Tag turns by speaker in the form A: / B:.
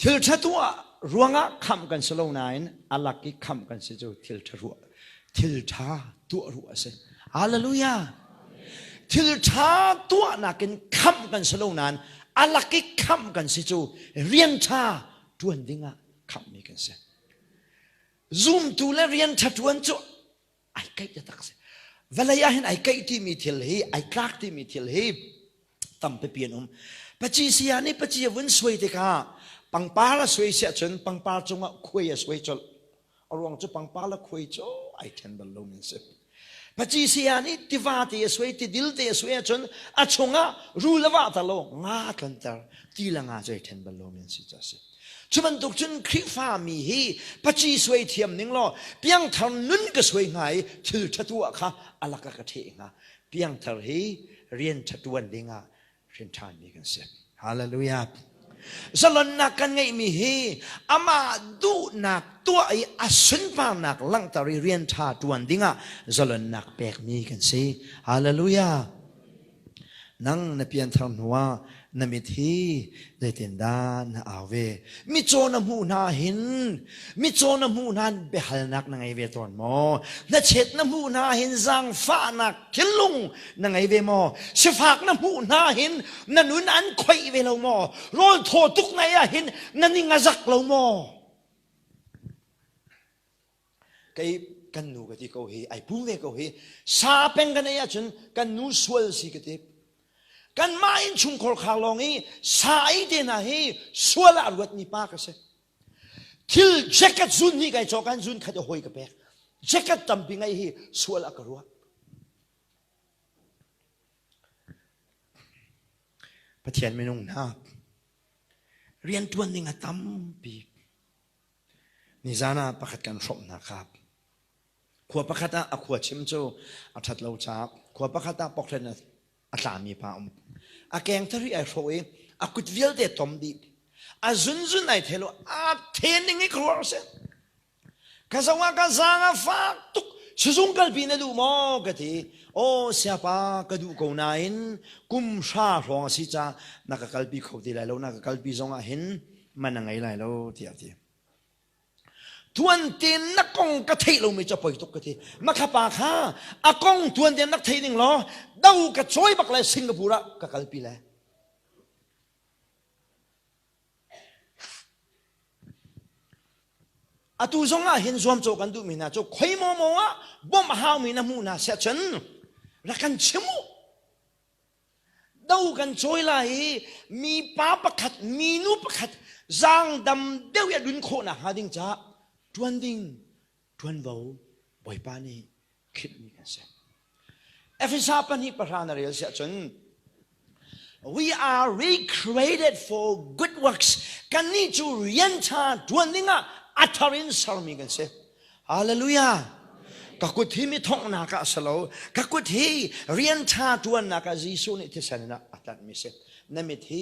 A: Thil ṭha tuah ruangah khamh kan si lo nain a lak i khamh kan si cu thil ṭha ruah thil ṭha tuah ruah a si. Hallelujah. Thil ṭha tuahnak in khamh kan si lo nain a lak i khamh kan si cu rian ṭha ṭuan dingah khamhmi kan si. Zumtu le rian ṭha ṭuan cu ai keih a tak si vawlei ah hin ai keih timi thil hi ai tlak timi thil hi tampi pi an um paci sia nih paci a vun suai tikah pangpar a suai si ahcun pangpar cungah khuai a suai colh a ruang cu pangpar le khuai cu ai ṭhen bal lo min si paci sia nih tiva te a suai tidil te a suai ahcun a chungah ru le vah ta lo nga tlonter ti le nga cu ai ṭhen bal lo min si ca si Cu bantuk cun Khrihfami hi paci suai thiam ning law piangthar nun ka suai hnga i thil ṭha tuah kha a lakah ka ṭheh hnga. Piangthar hi rian ṭha ṭuan dingah hrinṭhanmi kan si. Hallelujah. Zalonnak kan ngeihmi hi amah duhnak tuah i a sunparnak langhter i rian ṭha ṭuan dingah zalonnak pekmi kan si. Hallelujah. Nang na pianthar hnuah na mit hi zeitindah na au ve? Mitcaw na hmuh hna hin mitcaw na hmuh hna biahalnak na ngei ve tawn maw? Hnachet na hmuh hna hin zaangfahnak thinlung na ngei ve maw? Sifak na hmuh hna hin na nun an khoih ve lo maw? Rawl thaw tuk ngei ah hin na ning a zak lo maw? kei kan nu ka ti ko hi ai pung ve ko hi sa peng kan ei ahcun kan nu sual si ka ti kan mah in chungkhar khar lawng i sa ei te hna hi sual ah luatmi pa ka si thil jacket zun hi kai cokan zun khat a hoi ka pek jacket tampi ngai hi sual a ka ruah pathian minung na rian tuan ding a tampi Nizan ah pakhat kan hrawh hna khap. Khua pakhat ah a khua chim cu a ṭhat lo chap. Khua pakhat ah poklen a, a tlami pa um. A keng thari ai hrawh i a kut vialte tom dih. A zunzun ai thelo a then ding i ka ruah si. Ka zong ah ka zang a fak tuk. Sizung kalpi na duh maw ka ti. O siapa ka duh ko nain kum hra hrawng a si ca na ka kalpi kho ti lai lo na ka kalpi zong ah hin man a ngei lai lo tiah a ti tuan ten na kong ka theih lomi cu poi tuk ka ti makhapa kha a kong tuan ten rak thei ding law do ka choi bak le singapore ah ka kalpi le atu zong ah hin zuam co kan duhmi hna cu khoi mo mo ah bom a haumi na hmu na sia cun ra kan chimu Do kan cawi lai i mipa pakhat minu pakhat zangdam deuh i a dun khawh nak hnga ding ca ṭuan ding ṭuanvo bawipa nih khitmi kan si. Efesa pahnih pahra na rel siah cun we are recreated for good works kannih cu rian ṭha ṭuan dingah a thar in sermi kan si. Hallelujah. Ka kut hi mi thonghnak ah a si lo. Ka kut hi rian ṭha ṭuannak ah Jesuh nih thisen in a tlanh mi si. Na mit hi